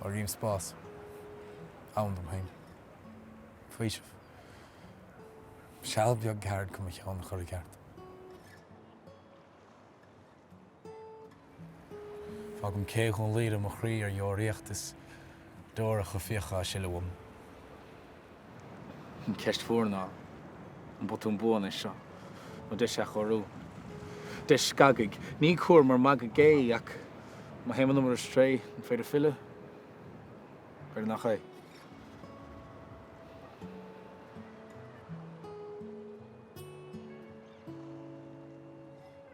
Áirím spás ann dom féin. Faoiseamh. Seal beag ceart chun mo cheann a chur i gceart. Fágaim cé Dhún Laoghaire mo chroí ar deoraíocht is deoracha fiacha á sileadh uaim. An cheist mhór ná, an botún buan é seo, nó deis athchóiriú? Deis scagaidh, ní cúr mar mhagadh é, ach má théann muid ar strae, an féidir filleadh? B'fhéidir nach ea.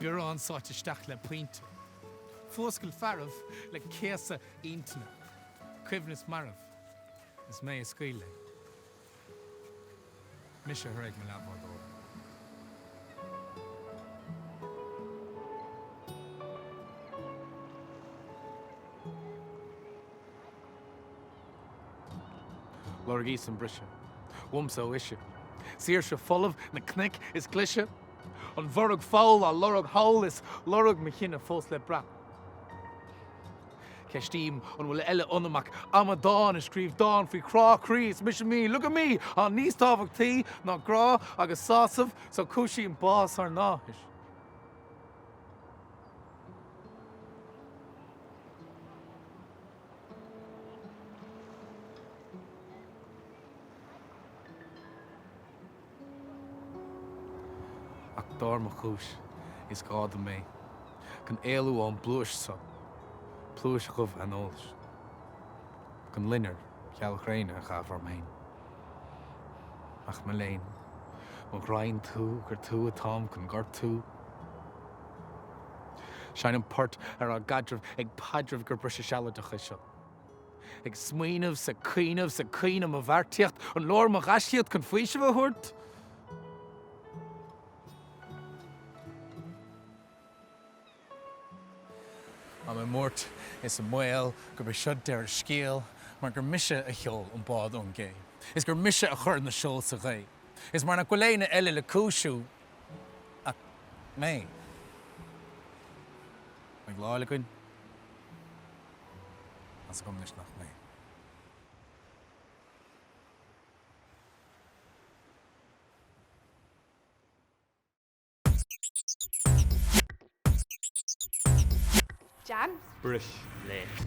biorán sáite isteach le pointe, fuascailt searbh le céasadh intinne, coibhneas marbh is mé a scaoil é, mise a thréig mo leathbhádóir. Lorgaíos an briseadh, uaimse ó ise, saoirse folamh na cnoic is glaise, an bhorraigh foul á lorg thall is lorg mo chine fós le brath. Ceistím an bhfuil eile ionam ach amadán a scríobh dán faoi chrá croí is mise me, look at me! á níos tábhachtaí ná grá agus sásamh so cúisím bás ár n-áthais. Ach dar mo chúis, is gá dom é, chun éalú ón bpluais so, pluais dhubh aineolais, chun loinnir gheal ghréine a chaitheamh orm féin. Ach mo léan, mo ghraidhn tú, gur tú atáim chun gortú! Seinnim port ar ár gcaidreamh ag paidreamh gur briseadh sealadach é seo. Ag smaoineamh 's ag cuimhneamh 's ag caoineadh mo bheartaíocht, an leor mo ghaiscíocht chun faoiseamh a thabhairt? Táim i mbuairt is i mbaol gurb é seo deireadh scéil mar gur mise a sheol an bád ón gcé is gur mise a chuir na seol sa ghaoth is mar nach bhfuil éinne eile le cúisiú. Ach mé. Mé bhláth le coin. As agam anois nach mé. Jan. Brice Laoch.